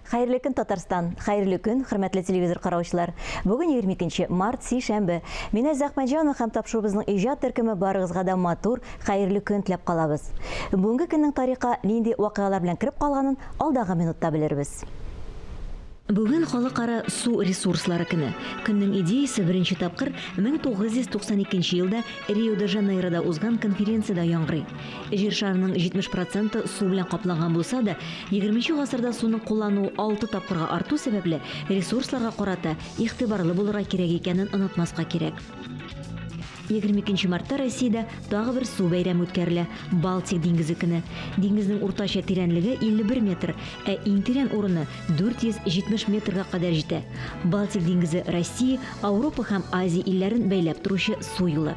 Хәерле көн, Татарстан! Хәерле көн, хөрмәтле телевизор караучылар! Бүген 22 март, сишәмбе. Мин Әззә Әхмәтҗанова һәм тапшыруыбызның иҗат төркеме барыгызга да матур, хәерле көн теләп калабыз. Бүгенге көннең тарихка нинди вакыйгалар белән кереп калганын алдагы минутта белербез. Бүген Халыкара су ресурслары көне. Көннең идеясе беренче тапкыр 1992 елда Рио-де-Жанейрода узган конференциядә яңгырый. Җир шарының 70 проценты су белән капланган булса да, 20 гасырда суның куллану алты тапкырга арту сәбәпле, ресурсларга карата игътибарлы булырга кирәк икәнен онытмаска кирәк. 22 мартта Россиядә тагы бер су бәйрәме үткәрелә – Балтик диңгезе көне. Диңгезнең уртача тирәнлеге 51 метр, ә иң тирән урыны 470 метрга кадәр җитә. Балтик диңгезе Россия, Ауропа һәм Азия илләрен бәйләп торучы су юлы.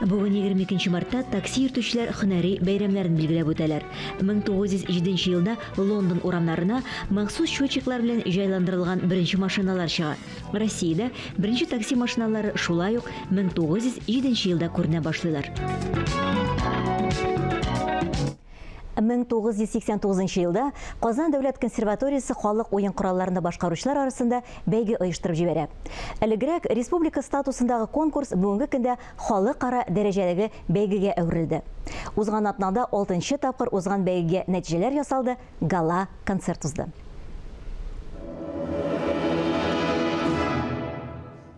Бүген 22 мартта такси йөртүчеләр хөнәри бәйрәмнәрен билгеләп үтәләр. 1907 елда Лондон урамнарына махсус счетчиклар белән җайландырылган беренче машиналар чыга. Россиядә беренче такси машиналары шулай ук 1907 елда күренә башлыйлар. 1989 нчы елда Казан дәүләт консерваториясе халык уен коралларында башкаручылар арасында бәйге оештырып җибәрә. Элегрәк республика статусындагы конкурс бүгенге көндә халыкара дәрәҗәдәге бәйгегә әверелде. Узган атнада алтынчы тапкыр узган бәйгегә нәтиҗәләр ясалды, гала концерт узды.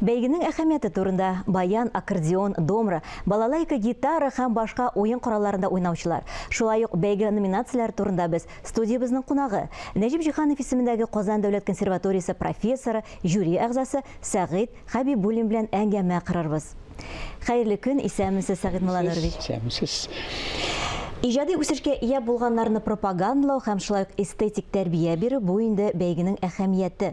Бәйгенең әһәмияте турында баян, аккордеон, домра, балалайка, гитара һәм башка уен коралларында уйнаучылар, шулай ук бәйге номинацияләре турында без студиябезнең кунагы, Нәҗип Җиһанов исемендәге Казан дәүләт консерваториясе профессоры, жюри әгъзасы Сәгыйть Хәбибуллин белән әңгәмә корырбыз. Хәерле көн, исәнмесез, Сәгыйть Муланурович! Исәнмесез, исәнмесез. Иҗади үсешкә ия булганнарны пропагандлау һәм шулай ук эстетик тәрбия бирү, бу инде бәйгенең әһәмияте.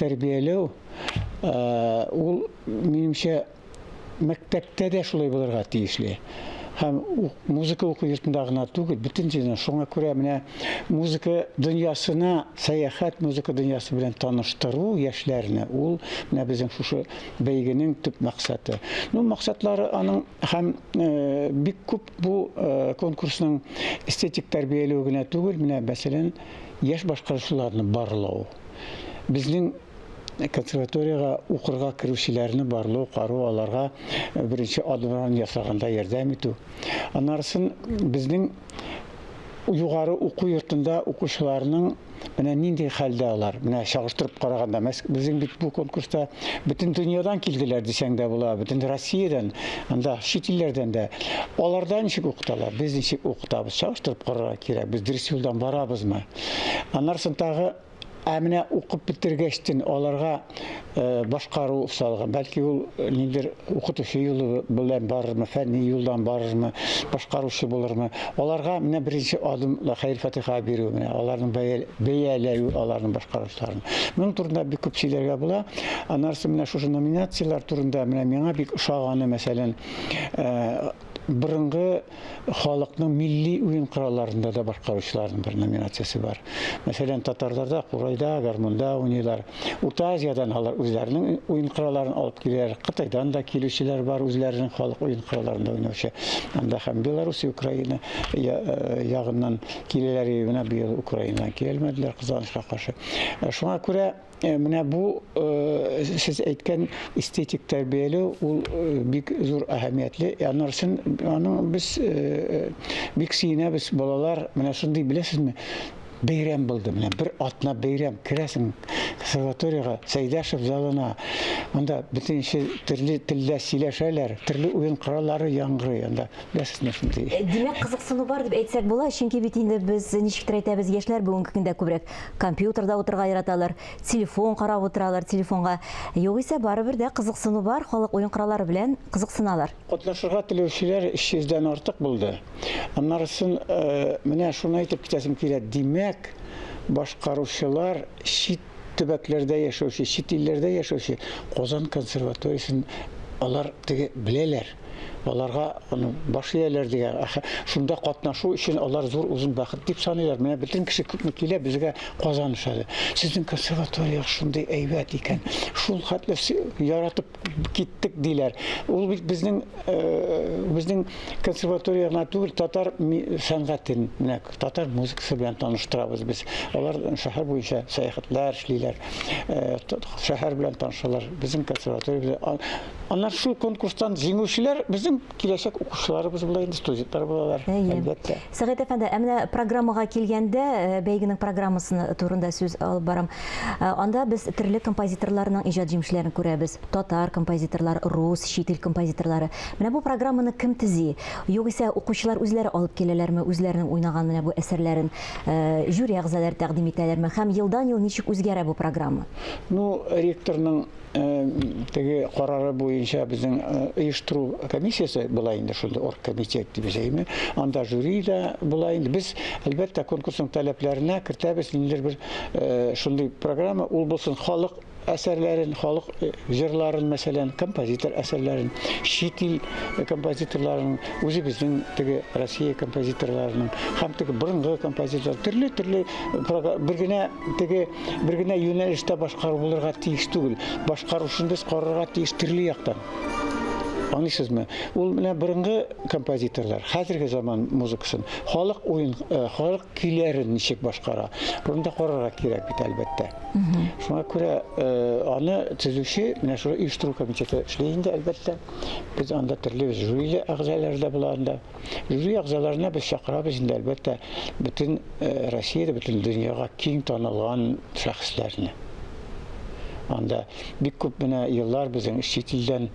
Тәрбияләү ул, минемчә, мәктәптә дә шулай булырга тиешле. Һәм музыка уку йортында гына түгел, бөтен җирдә. Шуңа күрә менә музыка дөньясына сәяхәт, музыка дөньясы белән таныштыру яшьләрне, ул менә безнең шушы бәйгенең төп максаты. Ну, максатлары аның һәм бик күп бу конкурсның эстетик тәрбияләү генә түгел, менә, мәсәлән, яшь башкаручыларны барлау. Безнең консерваториягә укырга керүчеләрне барлау, кару, аларга беренче адымнарын ясаганда ярдәм итү. Аннарысын безнең югары уку йортында укучыларның менә нинди хәлдә алар, менә чагыштырып караганда, безнең бит бу конкурста бөтен дөньядан килделәр дисәң дә була, бөтен Россиядән, анда чит илләрдән дә. Аларда ничек укыталар, без ничек укытабыз, чагыштырып карарга кирәк, без дөрес юлдан барабызмы? Аннан соң тагы Ә менә укып бетергәчтен аларга э, башкару салган. Бәлки ул э, ниндер укытучы юлы белән барырмы, фәнни юлдан барырмы, башкаручы булырмы? Аларга менә беренче адым хәйр фатиха бирү менә, аларның бәяләю, аларның башкарышларын. Моның турында бик күп сөйләргә була. Аннары менә шушы номинацияләр турында менә миңа бик ошаганы, мәсәлән, э, борынгы халыкның милли уен коралларында да башкаручыларның бер номинациясе бар. Мәсәлән, татарларда курайда, гармунда уйныйлар. Урта Азиядән алар үзләренең уен коралларын алып киләләр. Кытайдан да килүчеләр бар, үзләренең халык уен коралларында уйнаучы. Анда һәм Беларусь, Украина э, ягыннан киләләр, менә быел Украинадан килмәделәр, кызганычка каршы. Э, шуңа күрә Э, менә бу э, сез әйткән эстетик тәрбияле ул э, бик зур әһәмиятле анарсын аның без бик сөенәбез балалар менә шундый беләсезме бәйрәм булды менә бер атна бәйрәм керәсең консерваторияга сәйдәшев залына анда бөтенче төрле телдә сөйләшәләр төрле уен кораллары яңгырый анда беләсезме шундый э, димәк кызыксыну бар дип әйтсәк була чөнки бит инде без ничектер әйтәбез яшьләр бүгенге көндә күбрәк Компьютерда утырга яраталар, телефон карап утыралар, телефонга. Югыйсә барыбер дә кызыксыну бар, халык уен кораллары белән кызыксыналар. Катнашырга теләүчеләр 300 дән артык булды. Аннарысын менә шуны әйтеп китәсем килә, димәк, башкаручылар чит төбәкләрдә яшәүче, чит илләрдә яшәүче Казан консерваториясен алар теге беләләр. аларга баш ияләр дигән шунда катнашу өчен алар зур озын бәхет дип саныйлар менә бөтен кеше күпме килә безгә казан шәһәре сезнең консерватория шундый әйбәт икән шул хәтле яратып киттек диләр ул бит безнең безнең консерватория гына түгел татар сәнгатен менә татар музыкасы белән таныштырабыз без алар шәһәр буенча сәяхәтләр эшлиләр шәһәр белән танышалар безнең консерватория Аннан шул конкурстан җиңүчеләр безнең киләчәк укучыларыбыз була инде, студентлар булалар, әлбәттә. Сәгыйть әфәнде, ә менә программага килгәндә, э, бәйгенең программасы турында сүз алып барам. Э, анда без төрле композиторларның иҗат җимешләрен күрәбез. Татар композиторлар, рус, чит ил композиторлары. Менә бу программаны кем төзи? Югыйсә укучылар үзләре алып киләләрме, үзләренең уйнаган менә бу әсәрләрен э, жюри әгъзалары тәкъдим итәләрме? Һәм елдан-ел ничек үзгәрә бу программа? Ну, ректорның теге карары буенча безнең оештыру комиссиясе була инде шундый оргкомитет дип әйтәме анда жюри да була инде без әлбәттә конкурсның таләпләренә кертәбез ниндидер бер шундый программа ул булсын халык әсәрләрен халык җырларын мәсәлән композитор әсәрләрен чит ил композиторларын үзебезнең теге россия композиторларының һәм теге борынгы композитор төрле төрле бер генә Теге бер генә юнәлештә башкару булырга тиеш түгел. Башкарушын без карарга тиеш төрле яктан. Аңлыйсызмы? Ул менә борынгы композиторлар, хәзерге заман музыкасын, халык уен, э, халык көйләрен ничек башкара. Буны да карарга кирәк бит, әлбәттә. Шуңа күрә э, аны төзүче менә шул оештыру комитеты эшли инде, әлбәттә. Без анда төрле жюри әгъзалары да була анда. Язу ягъзаларына без чакырабыз инде, әлбәттә, бөтен э, Россиядә, бөтен дөньяга киң танылган шәхесләрне. Анда бик күп менә еллар безнең чит илдән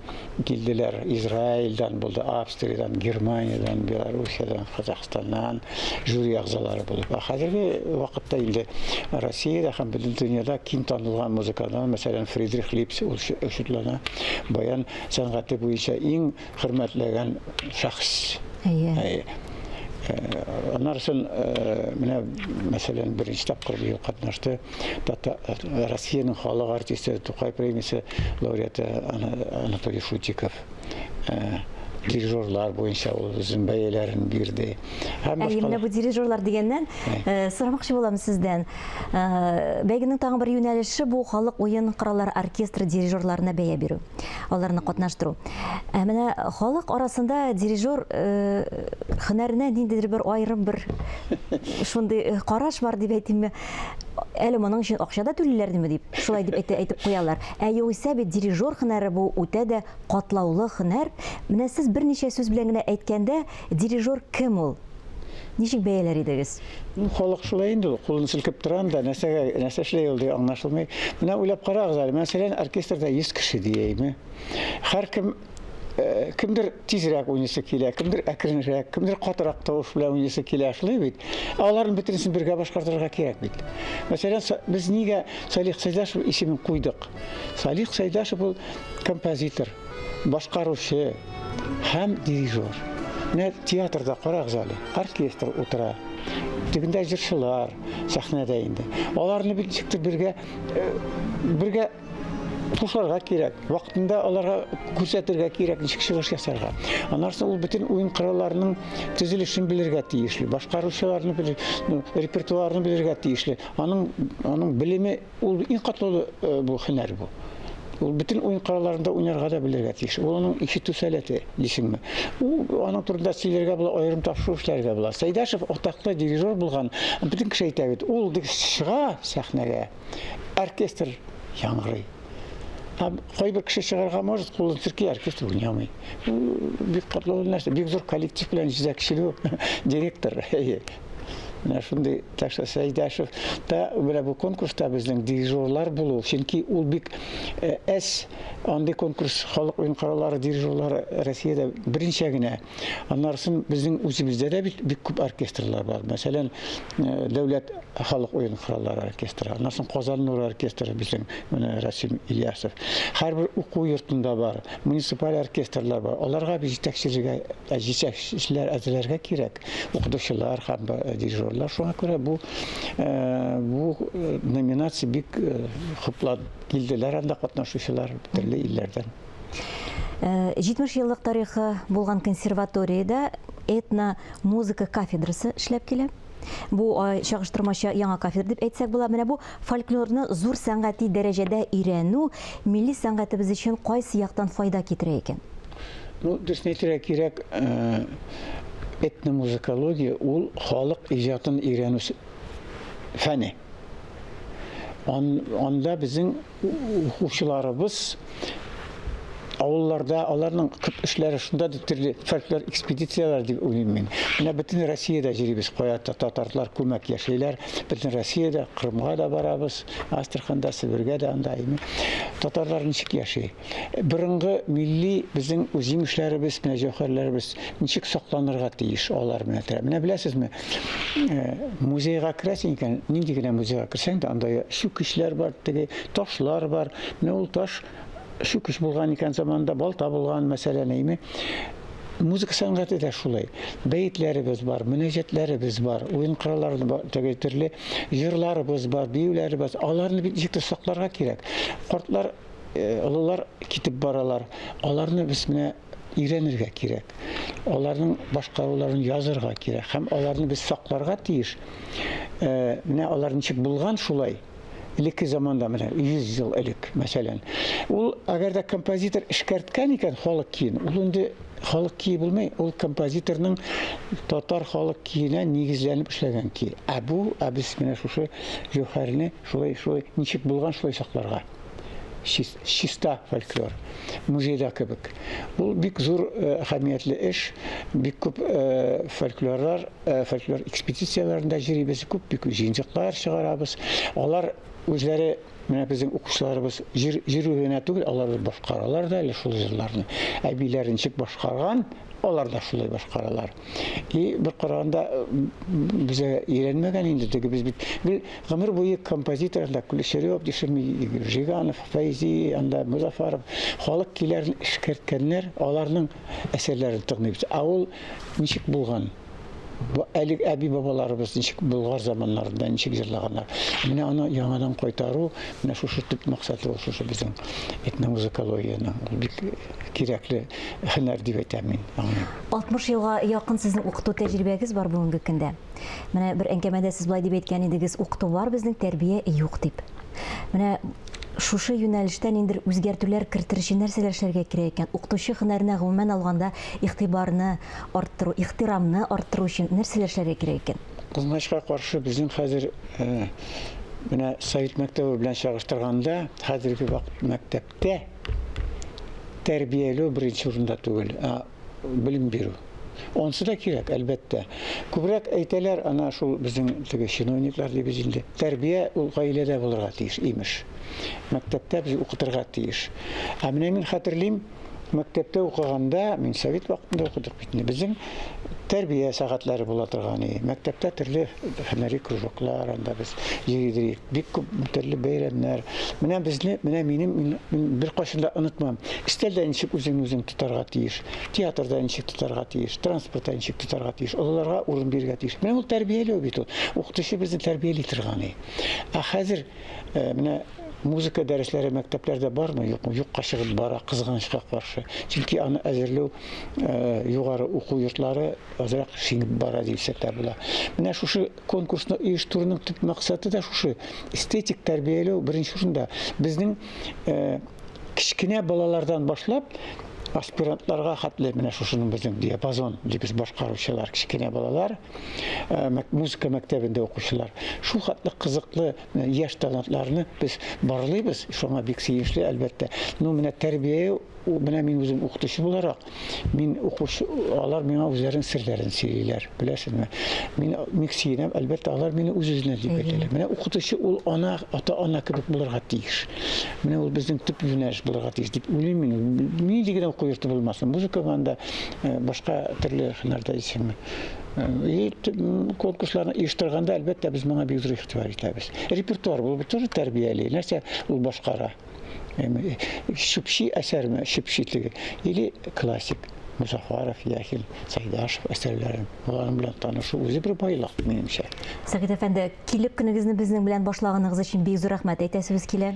килделәр. Израильдан булды, Австриядән, Германиядән, Белоруссиядән, Казахстаннан жюри ягъзалары булып. Ә хәзерге вакытта инде Россиядә һәм бөтен дөньяда киң танылган музыкантлар, мәсәлән, Фридрих Липс ул шүтлана. Баян сәнгате буенча иң хөрмәтләгән шәхес. Әйе. Әйе. Анарсын, менә, мәсәлән, беренче тапкыр быел катнашты Россиянең халык артисты, Тукай премиясе лауреаты Анатолий Шутиков. Дирижерлар буенча ул үзен бәяләрен бирде. Һәм башка. Менә бу дирижерлар дигәннән, сорамакчы булам сездән. Бәйгенең тагын бер юнәлеше бу халык уен кораллары оркестры дирижерларына бәя бирү. аларны катнаштыру. Ә менә халык арасында дирижер хөнәренә ниндидер бер аерым бер шундый караш бар дип әйтимме, әле моның өчен акча да түлиләрдеме дип, шулай дип әйтә, әйтеп куялар. Ә югыйсә бит дирижер хөнәре бу үтә дә катлаулы хөнәр. Менә сез берничә сүз белән генә әйткәндә, Дирижер кем ул? Ничек бәяләр идегез? Ну, халык шулай инде ул. Кулын селкеп тора анда, нәрсәгә, нәрсә эшли ул дип аңлашылмый. Менә уйлап карагыз әле, мәсәлән, оркестрда 100 кеше диеме. Һәркем Э, кемдер тизрәк уйныйсы килә, кемдер әкренрәк, кемдер катырак тавыш белән уйныйсы килә, шулай бит. Ә аларның бөтенесен бергә башкарырга кирәк бит. Мәсәлән, без нигә Салих Сайдашев исемен куйдык? Салих Сайдашев ул композитор, башкаручы, һәм дирижер. Менә театрда карагыз әле, оркестр утыра. Төбендә җырчылар сәхнәдә инде. Аларны бит ничектер бергә э, бергә тушарга кирәк, вакытында аларга күрсәтергә кирәк, ничек чыгыш ясарга. Аннары ул бөтен уен коралларының төзелешен белергә тиешле, башкаручыларны белер, ну, репертуарны белергә тиешле. Аның аның белеме Ул иң катлаулы бу һөнәр бу. Ул бөтен уен коралларында уйнарга да белергә тиеш. Ул аның ишетү сәләте дисеңме? Ул аның турында сөйләргә була, аерым тапшыру эшләргә була. Сәйдәшев атаклы дирижер булган. Бөтен кеше әйтә бит, ул дип чыга сәхнәгә, оркестр яңгырый. Ә кайбер кеше чыгарга может, кулын сирки, оркестр уйнамый. Бик катлаулы нәрсә, бик зур коллектив белән җитәкчелү, директор. Менә шундый, так что Сәйдәшев та менә бу конкурста безнең дирижерлар булу, чөнки ул бик әз андый конкурс халык уен кораллары дирижерлары Россиядә беренчә генә. Аннарысын безнең үзебездә дә бит бик күп оркестрлар бар. Мәсәлән, дәүләт халык уен кораллары оркестры, аннарысын Казан нуры оркестры безнең менә Расим Ильясов. Һәрбер уку йортында бар, муниципаль оркестрлар бар. Аларга бит җитәкчеләргә җитәкчеләр әзерләргә кирәк. укытучылар һәм дирижерлар. Шуңа күрә бу бу номинация бик хуплап килделәр анда катнашучылар төрле илләрдән. 70 э, еллык тарихы булган консерваториядә этно музыка кафедрасы эшләп килә. Бу э, чагыштырмача яңа кафедра дип әйтсәк була. Менә бу фольклорны зур сәнгати дәрәҗәдә өйрәнү милли сәнгатебез өчен кайсы яктан файда китерә икән? Ну, төснетергә кирәк, э, этномузыкология ул халык иҗатын өйрәнү фәне. Ан, анда безнең укучыларыбыз авылларда аларның күп эшләре шунда дип төрле фольклор экспедицияләр дип уйлыйм мин. Менә бөтен Россиядә җөрибез, кая татарлар күмәк яшәйләр, бөтен Россиядә, Кырымга да барабыз, Астраханда, Себергә дә анда. Татарлар ничек яши? Борынгы милли безнең үзйимешләребез, менә җәүһәрләребез ничек сакланырга тиеш алар менә тә. Менә беләсезме, музейга керәсең икән, нинди генә музейга керсәң дә, анда чүкечләр бар, теге ташлар бар. Менә ул таш чүкеч булган икән заманында, балта булган, мәсәлән, әйме. Музыка сәнгате дә шулай. Бәетләребез бар, мөнәҗәтләребез бар, уен кораллары бар, теге төрле җырларыбыз бар, биюләребез. Аларны бит ничек тә сакларга кирәк. Картлар олылар китеп баралар. Аларны без менә өйрәнергә кирәк. Аларның башкаруларын язырга кирәк һәм аларны без сакларга тиеш. Э, менә алар ничек булган шулай? Элекке заманда менә 100 ел элек, мәсәлән. Ул әгәр дә композитор эшкәрткән икән халык киен, ул инде халык кие булмый, ул композиторның татар халык киенә нигезләнеп эшләгән ки. Ә бу, ә без менә шушы җөһәрне шулай шулай ничек булган шулай сакларга. чиста фольклор музейда кебек. Ул бик зур э, әһәмиятле эш, бик күп э, фольклорлар, э, фольклор экспедицияләрендә җөрибез, күп бик җыенчыклар чыгарабыз. Алар үзләре менә безнең укучыларыбыз җыру генә түгел, алар башкаралар да әле шул җырларны. Әбиләренчик башкарган, алар да шулай башкаралар. И бер караганда безгә өйрәнмәгән инде теге без бит бел гомер буе композитор анда Кулешерев, Дешми, Жиганов, Фәйзи, анда Музафаров халык киләрен эшкәрткәннәр, аларның әсәрләрен тыңлыйбыз. Ә ул ничек булган? Бу әлег әби бабаларыбыз ничек Болгар заманнарында ничек җырлаганнар. Менә аны яңадан кайтару, менә шушы төп максаты ул шушы безнең этномузыкологиянең бик кирәкле һөнәр дип әйтәм мин аңа. 60 елга якын сезнең укыту тәҗрибәгез бар бүгенге көндә. Менә бер әңгәмәдә сез болай дип әйткән идегез, укыту бар безнең, тәрбия юк дип. Менә шушы юнәлештә ниндер үзгәртүләр кертер өчен нәрсәләр эшләргә кирәк икән? Укытучы һөнәренә гомумән алганда игътибарны арттыру, ихтирамны арттыру өчен нәрсәләр эшләргә кирәк икән? Кызганычка каршы, безнең хәзер менә совет мәктәбе белән чагыштырганда, хәзерге вакыт мәктәп Тә тәрбияләү беренче урында түгел, ә белем бирү. Онсы да кирәк, әлбәттә. Күбрәк әйтәләр, ана шул безнең теге чиновниклар дибез инде. Тәрбия ул гаиләдә булырга тиеш, имеш. Мәктәптә без укытырга тиеш. Ә менә мин хәтерлим, мәктәптә укыганда, мин совет вакытында укыдык бит инде. Безнең тәрбия сәгатьләре була торган и мәктәптә төрле һөнәри кружоклар анда без йөридек бик күп төрле бәйрәмнәр менә безне менә минем мин беркайчан да онытмам өстәлдә ничек үзеңне үзең тотарга тиеш театрда ничек тотарга тиеш транспортта ничек тотарга тиеш олыларга урын бирергә тиеш менә ул тәрбияләү бит ул укытучы безне тәрбияли торган и ә хәзер Э, менә музыка дәресләре мәктәпләрдә бармы юкмы юкка чыгып бара кызганычка каршы чөнки аны әзерләү э, югары уку йортлары азрак сеңеп бара дисәк тә була менә шушы конкурсны оештыруның төп максаты да шушы эстетик тәрбияләү беренче урында безнең э, кечкенә балалардан башлап аспирантларга хәтле менә шушының безнең диапазон дибез башкаручылар кечкенә балалар э, музыка мәктәбендә укучылар. Шул хәтле кызыклы э, яшь талантларны без барлыйбыз, шуңа бик сөенечле, әлбәттә. Ну, менә тәрбия, менә мин үзем укытучы буларак, мин укучы, алар миңа үзләрен серләрен сөйлиләр, беләсезме? Мин бик сөенәм, әлбәттә, алар мине үз-үзенә дип әйтәләр. Менә укытучы ул ана, ата-ана кебек булырга тиеш. Менә ул безнең төп юнәлеш булырга тиеш дип уйлыйм мин. Нинди генә уку йорты булмасын, музыкага да, э, башка төрле һөнәрдә исеме. И конкурсларны оештырганда, әлбәттә, без моңа бик зур игътибар итәбез. Репертуар булып тоже тәрбияли. Нәрсә ул башкара? Эми, шүпши әсәрме, шүпши теге, или классик. Музафаров, Яхин, Сайдашев әсәрләрен. Алар белән танышу үзе бер байлык, минемчә. Сәгыйть әфәнде, килеп көнегезне безнең белән башлаганыгыз өчен бик зур рәхмәт әйтәсебез килә.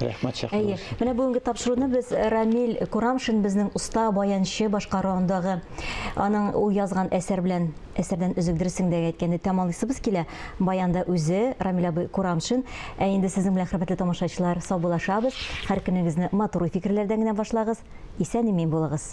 Рәхмәт чакыру. Менә бүгенге тапшыруны без э, Рамил Курамшин безнең уста баянчы башкаруындагы аның ул язган әсәр белән әсәрдән өзек дөресеңдә әйткәндә тәмамлыйсыбыз килә. Баянда үзе Рамил абый Курамшин. Ә инде сезнең белән хөрмәтле тамашачылар саубуллашабыз. Һәр көнегезне матур фикерләрдән генә башлагыз. Исән-имин булыгыз.